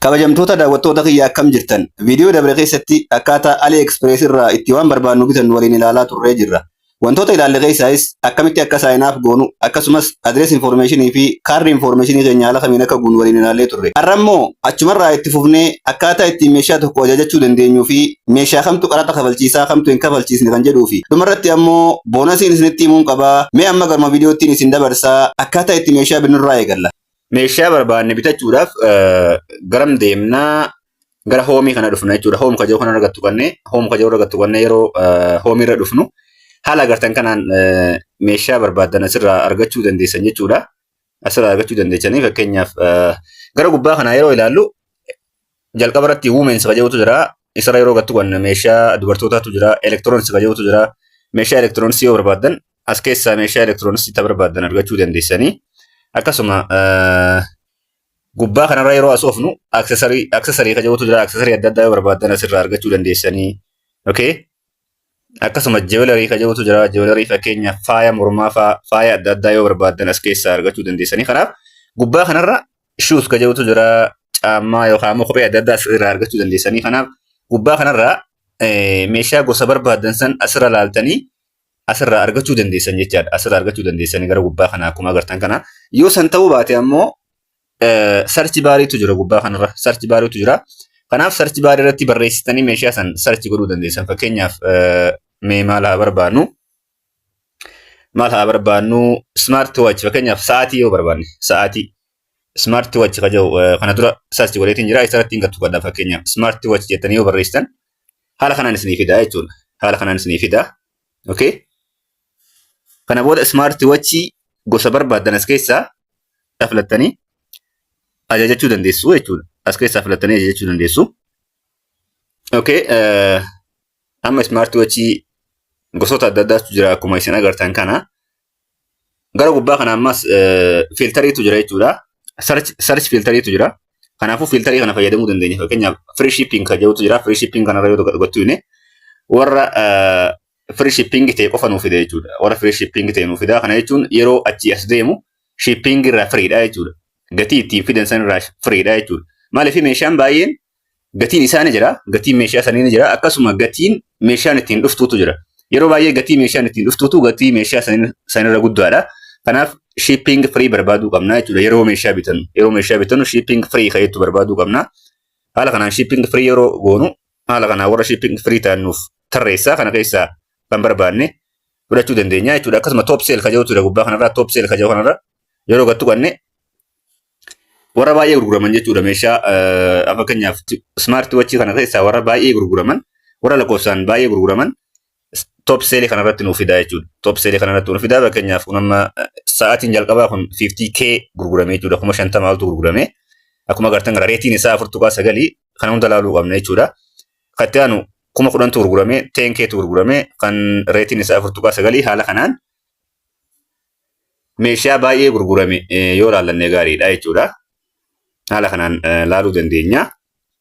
Kabajamtoota daawwattoota kiyya akkam jirtan? Viidiyoo dabre keessatti akkaataa Ali Express irraa itti waan barbaannu bitannu waliin ilaalaa turree jirra. Wantoota ilaalle keessaayis akkamitti akka sign up goonu akkasumas address information fi card information keenya haala kamiin akka guunnu waliin ilaallee turre. Har'a immoo achumarraa itti fufnee akkaataa ittiin meeshaa tokko ajajachuu dandeenyuu fi meeshaa kamtu qaraxa kafalchiisaa kamtu hin kafalchiisne kan jedhuu fi dhumarratti ammoo boonasiin isinitti himuun qaba. Mee amma garuma viidiyoottiin isin dabarsa akkaataa itti meeshaa binnurraa eegalla. Meeshaa barbaanne bitachuudhaaf garam deemnaa gara hoomii kana dhufna jechuudha. Hoom kajoo kana irra tuqanne, hoom kajoo irra tuqanne yeroo hoomii irra dhufnu haala agartan kanaan meeshaa barbaaddan asirraa argachuu dandeessan jechuudha. Asirraa argachuu dandeessanii fakkeenyaaf gara gubbaa kanaa yeroo ilaallu Jalqaba irratti women's kan jedhutu jira. Isarra yeroo gattu kan meeshaa dubartootaatu jira. Electronics kan jedhutu jira. Meeshaa electronics yoo barbaaddan as keessaa meeshaa electronics itti barbaaddan argachuu dandeessanii. Akkasuma eh, gubbaa kanarra yeroo asoofnu accessory accessory kan jedhutu jira. Accessory adda addaa yoo barbaaddan asirraa argachuu dandeessanii. Okay. Akkasuma jewelry ka jedhutu jira. Jewelry fakkeenya faaya mormaa faa faaya adda addaa yoo barbaaddan as keessaa argachuu dandeessanii. Kanaaf gubbaa kanarra shoes ka jedhutu jira. Caammaa yookaan immoo kophee adda addaa as irraa argachuu dandeessanii. Kanaaf gubbaa kanarra eh, meeshaa gosa barbaaddan san asirra laaltanii asirraa argachuu dandeessan jechaadha. Asirraa argachuu dandeessanii gara gubbaa kana akkuma agartan kana. Yoo san ta'uu baate ammoo sarchi baariitu jira gubbaa kanarra sarchi baariitu jira. Kanaaf sarchi baarii irratti barreessitanii meeshaa san sarchi godhuu dandeessan fakkeenyaaf mee maal haa barbaannu maal haa barbaannu smart watch fakkeenyaaf sa'aatii yoo barbaanne sa'aatii smart watch ka jedhu kana dura sarchi godheetiin jira isarratti hin gattu gadha fakkeenyaaf smart watch jettanii yoo barreessitan haala kanaan isinii fida jechuudha haala kanaan isinii fida okay Kana booda ismaarti wachii gosa barbaaddan as keessaa dha filattanii ajajachuu dandeessu jechuudha. As keessaa filattanii ajajachuu dandeessu. Okay, eh, amma ismaarti wachii gosoota adda addaatu jira akkuma isin agartan kana. Gara gubbaa kana ammas eh, fiiltariitu jira jechuudha. Search search fiiltariitu jira. Kanaafuu fiiltarii kana fayyadamuu dandeenya. Fakkeenyaaf free shipping kan jedhutu jira. Free shipping kanarra yoo gochuu baanne warra eh, free shipping ta'e qofa nuu fida jechuudha. Warra free shipping ta'e nuu fida kana jechuun yeroo achii as deemu shipping irraa free dha jechuudha. Gatii ittiin fidan san irraa free dha jechuudha. Maaliif meeshaan baay'een gatiin isaa ni jira, gatiin meeshaa sanii ni jira, akkasuma gatiin meeshaan ittiin dhuftuutu jira. Yeroo baay'ee gatii meeshaan ittiin dhuftuutu gatii meeshaa sanirra guddaadha. Kanaaf shipping free barbaaduu qabna jechuudha yeroo meeshaa bitannu. Yeroo meeshaa bitannu shipping free ka'eettu barbaaduu qabna. Haala kanaan shipping free yeroo goonu Haala kanaan warra shipping free ta'an nuuf tarreessaa kana keessaa kan barbaanne fudhachuu dandeenya jechuudha. Akkasuma top sale ka jedhutu jira gubbaa kanarraa top sale ka jedhu kanarra yeroo gattu qanne warra baay'ee gurguraman jechuudha meeshaa fakkeenyaaf smart watch kana keessaa warra baay'ee gurguraman warra lakkoofsaan baay'ee gurguraman top seelii kana irratti nuuf fidaa jechuudha. Top seelii kana irratti nuuf fidaa fakkeenyaaf kun amma sa'aatiin jalqabaa kun 50k gurgurame jechuudha. Kuma 50 oltu gurgurame. Akkuma agartan gara reetiin isaa 4.9 kana hunda ilaaluu qabna jechuudha. Kan itti aanu kuma 10tu gurgurame 10ktu gurgurame kan reetiin isaa 4.9 haala kanaan meeshaa baay'ee gurgurame yoo ilaallanne gaariidha jechuudha. Haala kanaan ilaaluu dandeenya.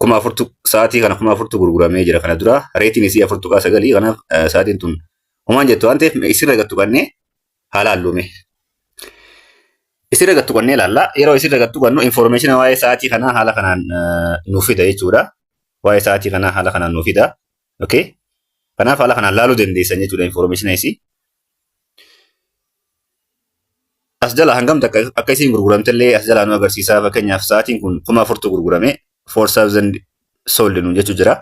kuma afurtu sa'aatii kana kuma afurtu gurguramee jira kana dura reetiin isii afur tuqaa sagalii kanaaf sa'aatiin tun homaan jettu waan ta'eef isirra gattu kannee haala halluume. Isirra gattu kannee ilaalla yeroo isirra gattu kannu infoormeeshina waa'ee sa'aatii kanaa haala kanaan nuuf fida jechuudha. Waa'ee sa'aatii kanaa haala kanaan nuuf fida. Okay. Kanaaf haala kanaan laaluu dandeessan jechuudha infoormeeshina isii. As jala hangam takka akka isiin gurguramte illee as jalaa nu agarsiisa. Fakkeenyaaf sa'aatiin kun kuma afurtu gurgurame. 4000 sold nu jechuu jira.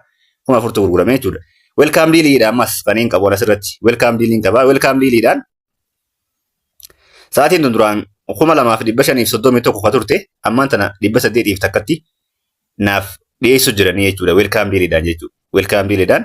Kuma afurtu gurgurame jechuudha. Welkaam diiliidha ammas kan hin qabu asirratti. Welkaam diiliin qaba. Welkaam diiliidhaan sa'aatiin tun duraan kuma lamaa fi dhibba shaniif soddomii tokko ka turte ammaan tana dhibba saddeetiif takkatti naaf dhiyeessu jiranii jechuudha. Welkaam diiliidhaan jechuudha. Welkaam diiliidhaan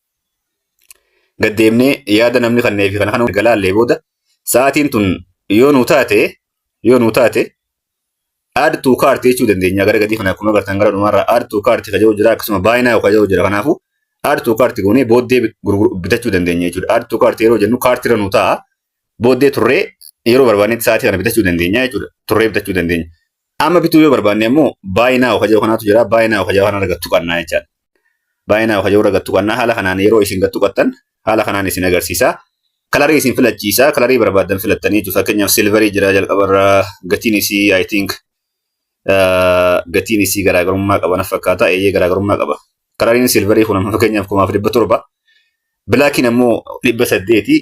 gad deemnee yaada namni kannee fi kana kana galaallee booda sa'aatiin tun yoo nuu taate yoo nuu taate add to cart jechuu dandeenya gara gadii kana akkuma agartan gara dhumaarraa add to cart ka jedhu jira akkasuma buy now ka jedhu jira kanaafuu add to cart goonee booddee bitachuu dandeenya jechuudha add to cart yeroo jennu cart irra nuu ta'a booddee turree yeroo barbaannetti sa'aatii kana bitachuu dandeenya jechuudha. Turree bitachuu dandeenya. Amma bituu yoo barbaanne immoo baay'inaa oka jedhu kanaatu jira. Baay'inaa oka jedhu kanarra gad tuqannaa jechaadha. Baay'inaa oka jedhu irra gad tuqannaa haala kanaan yeroo isin gad tuqattan haala kanaan isin agarsiisa. Kalarii isin filachiisa. Kalarii barbaaddan filattanii jechuudha. Fakkeenyaaf silvarii jira jalqabarra gatiin isii I think gatiin isii garaagarummaa qaba naf fakkaata. Eeyyee garaagarummaa qaba. Kalariin silvarii kun amma fakkeenyaaf kumaaf dhibba torba. Bilaakiin ammoo dhibba saddeeti.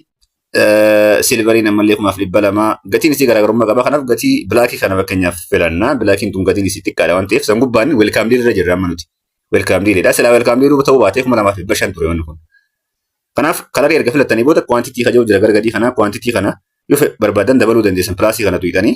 Silvariin ammallee kumaaf dhibba lama. Gatiin isii garaagarummaa qaba. Kanaaf gatii bilaakii kana fakkeenyaaf filanna. Bilaakiin tun gatiin isii xiqqaadha waan ta'eef san gubbaan welkaam diilirra jirra amma nuti. Welkaam diilidha. Silaa welkaam diiluu ta'uu baatee kuma lamaaf dhibba shan ture wanni kun. Kanaaf kalarii erga filattanii booda kwaantitii kaja'u jira gargadii kana kwaantitii kana yoo barbaadan dabaluu dandeessan pilaasii kana tuqxanii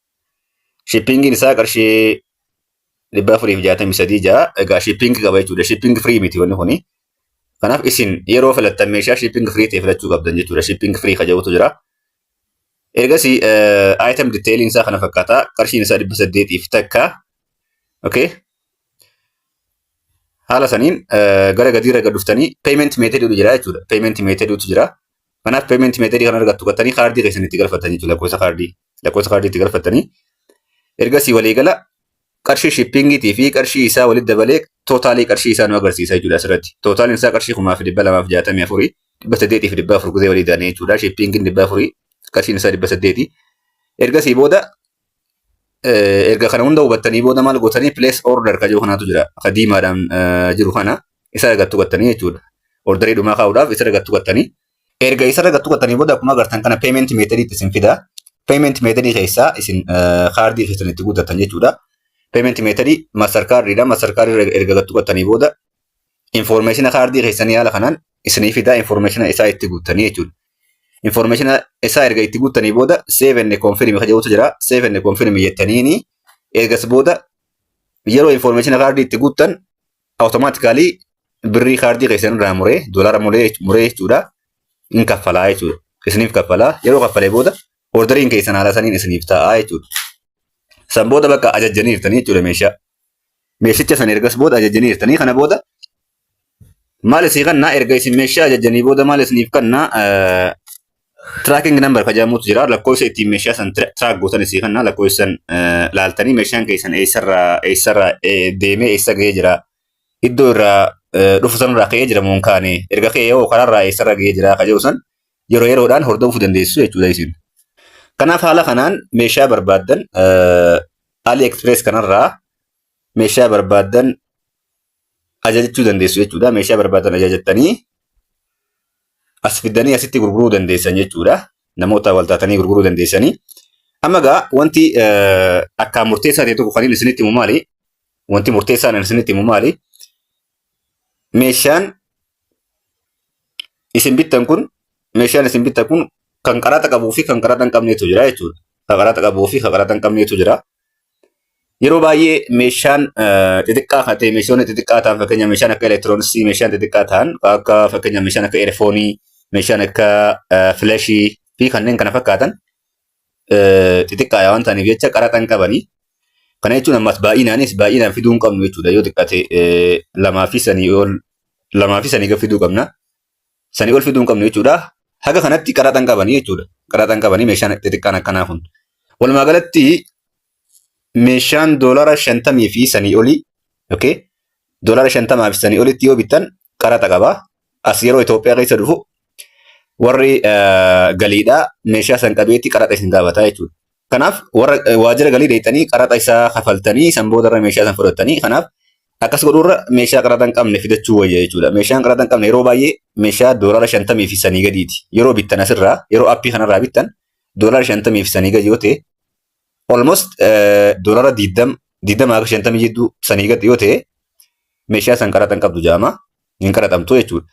Shippingiin isaa qarshii dhibba afurii fi jaatamii sadii ja'a. Egaa shippingi qaba jechuudha. Shippingi firii miti wanni kuni. Kanaaf isin yeroo filattan meeshaa shippingi firii ta'e filachuu qabdan jechuudha. Shippingi firii kan jedhutu jira. Ergasii item detailing isaa kana fakkaata. Qarshiin isaa dhibba saddeetii fi takka. Okay. Haala saniin gara gadiirra gad dhuftanii payment method jedhu jira jechuudha. Payment method tu jira. Kanaaf payment method kan argattu gattanii kaardii keessan itti galfattan jechuudha lakkoofsa kaardii lakkoofsa kaardii itti galfattanii ergasii walii gala qarshii shippingiitii fi qarshii isaa walitti dabalee tootaalii qarshii isaa nu agarsiisa jechuudha asirratti tootaaliin isaa qarshii kumaa fi dhibba lamaa fi jaatamii afurii dhibba saddeetii fi dhibba afur gizee walii daanee jechuudha shippingiin dhibba afurii qarshiin isaa dhibba saddeetii ergasii booda erga kana hunda hubattanii booda maal gootanii place order ka jiru kanaatu jira ka diimaadhaan jiru kana isa irra gattu gattanii jechuudha orderii dhumaa kaa'uudhaaf isa irra gattu gattanii erga isa irra gattu gattanii booda akkuma agartan kana payment method itti isin fida payment method keessaa isin kaardii keessan itti guuttatan jechuudha payment method master card dha master card irra erga gattu gattanii booda Infoormeeshina kaardii keessanii haala kanaan isinii fidaa infoormeeshina isaa itti guuttanii jechuudha. Infoormeeshina isaa erga itti guuttanii booda save and confirm kan jedhutu jira. Save and confirm jettaniini ergas booda yeroo infoormeeshina kaardii itti guuttan awutomaatikaalii birrii kaardii keessan irraa muree doolaara muree muree jechuudha. In kaffalaa jechuudha. Isiniif kaffalaa yeroo kaffalee booda orderiin keessan haala saniin isiniif ta'a jechuudha. San booda bakka ajajjanii jirtanii jechuudha meeshaa. meeshicha sana ergas booda ajajanii jirtanii kana booda maal isii kannaa erga isin meeshaa ajajanii booda maal isiniif kannaa tracking number kajamutu jira lakkoofsa ittiin meeshaa san track gootan isii kannaa lakkoofsan laaltanii meeshaan keessan eessarraa eessarraa deemee eessa ga'ee jira iddoo irraa dhufu sanarraa ka'ee jira moon kaane erga ka'ee yoo karaarraa eessarra ga'ee jira kaja'u san yeroo yeroodhaan hordofuu dandeessu jechuudha isin. Kanaaf haala kanaan meeshaa barbaaddan Ali Express kanarraa meeshaa barbaaddan ajajachuu dandeessu jechuudha. Meeshaa barbaaddan ajajattanii as fiddanii asitti gurguruu dandeessan jechuudha. Namoota wal taatanii gurguruu dandeessanii. Amma egaa wanti akkaan murteessaa ta'e tokko kan inni isinitti himu maali? Wanti murteessaan inni isinitti himu maali? meeshaan isin bittan kun meeshaan isin bittan kun kan qaraxa qabuu fi kan qaraxa hin qabneetu jira jechuudha. Kan qaraxa qabuu fi kan qaraxa hin qabneetu jira. Yeroo baay'ee meeshaan xixiqqaa kan ta'e meeshoonni xixiqqaa ta'an fakkeenya meeshaan akka elektirooniksii meeshaan xixiqqaa ta'an akka fakkeenya meeshaan akka eerfoonii meeshaan akka filashii fi kanneen kana fakkaatan xixiqqaadha waan ta'aniif jecha qaraxa hin qabani. Kana jechuun ammas baay'inaanis baay'inaan fiduu hin qabnu jechuudha. Yoo xiqqate lamaa fi sanii ol lamaa fi sanii gad fiduu qabna. Sanii ol fiduu hin qabnu jechuudha. Haga kanatti qaraxa hin qabani jechuudha. Qaraxa hin qabani meeshaan xixiqqaan akkanaa kun. Walumaa galatti meeshaan doolara shantamii fi sanii olii okay, doolara shantamaa fi sanii olitti yoo bittan qaraxa qaba. As yeroo Itoophiyaa keessa dhufu warri galiidhaa meeshaa san qabeetti qaraxa isin gaafata jechuudha. Kanaaf warra waajjira galii deettanii qaraxa isaa kafaltanii san booda irra meeshaa san fudhattanii kanaaf akkas godhuurra meeshaa qaraxa hin qabne fidachuu wayya jechuudha. Meeshaan qaraxa hin qabne yeroo baay'ee meeshaa doolara shantamii fi sanii gadiiti. Yeroo bittan asirraa yeroo appii kanarraa bittan doolara shantamii fi sanii gadi yoo ta'e almost doolaara 20 20 haga 50 jidduu sanii gad yoo ta'e meeshaa san qaraxa hin qabdu jedhama hin qaraxamtu jechuudha.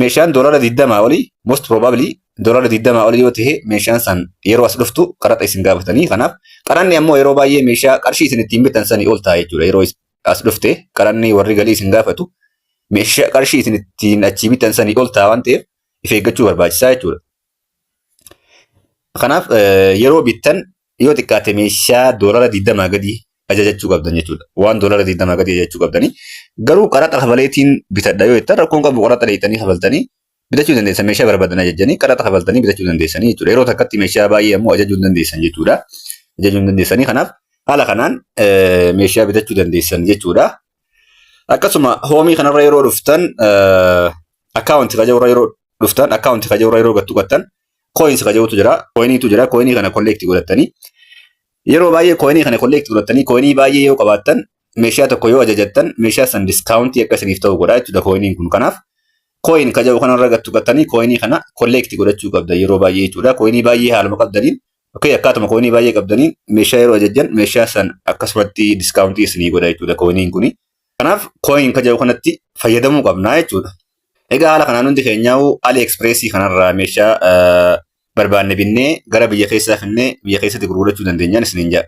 Meeshaan doolaara 20 olii most probably doolaara 20 olii yoo ta'e meeshaan san yeroo as dhuftu qaraxa isin gaafatanii kanaaf qaranni ammoo yeroo baay'ee meeshaa qarshii isin ittiin bitan sanii ol ta'a jechuudha yeroo as dhufte qaranni warri galii isin gaafatu meeshaa qarshii isin ittiin achii bitan sanii ol ta'a waan ta'eef if eeggachuu barbaachisaa jechuudha. Kanaaf yeroo bittan yoo xiqqaate meeshaa doolara 20 gadi ajajachuu qabdan jechuudha. Waan doolara 20 gadi ajajachuu qabdanii garuu qaraxa kafaleetiin bitadha yoo jettan rakkoon qabu qaraxa dheeyxanii kafaltanii bitachuu dandeessan meeshaa barbaadan ajajanii qaraxa kafaltanii bitachuu dandeessanii jechuudha. Yeroo takkatti meeshaa baay'ee ammoo ajajuu hin dandeessan jechuudha. Ajajuu hin dandeessanii kanaaf haala kanaan meeshaa bitachuu dandeessan jechuudha. Akkasuma hoomii kanarra yeroo dhuftan akkaawunti kajeurra yeroo dhuftan akkaawunti kajeurra yeroo gattu gattan kooyinsi kajeutu jira kooyiniitu jira kooyinii kana kolleekti godhattanii yeroo baay'ee kooyinii kana kolleekti godhattanii kooyinii baay'ee yoo qabaattan meeshaa tokko yoo ajajattan meeshaa san diskaawuntii akka isiniif ta'u godha jechuudha kooyiniin kun kanaaf kooyin kaja'u kanarra gattu gattanii kooyinii kana kolleekti godhachuu qabda yeroo baay'ee jechuudha kooyinii baay'ee haaluma qabdaniin Okay, akkaatuma kooyinii baay'ee qabdaniin meeshaa yeroo ajajjan meeshaa san akkasumatti diskaawuntii isinii godha jechuudha kooyiniin kuni. Kanaaf kooyin kaja'u kanatti fayyadamuu qabna jechuudha. Egaa haala kanaan hundi keenyaa'u AliExpress kanarraa meeshaa barbaanne binnee gara biyya keessaa finnee biyya keessatti gurgurachuu dandeenyaan isiniin jedha.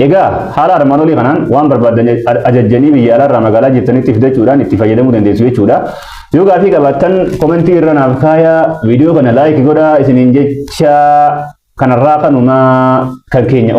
Egaa haala armaan olii kanaan waan barbaaddan ajajjanii biyya alaarraa magaalaa jirtanitti fidachuudhaan itti fayyadamuu dandeessu jechuudha. Yoo gaaffii qabaattan komentii irra naaf kaayaa viidiyoo kana laayiki godhaa isiniin jecha kanarraa kanumaa kan keenya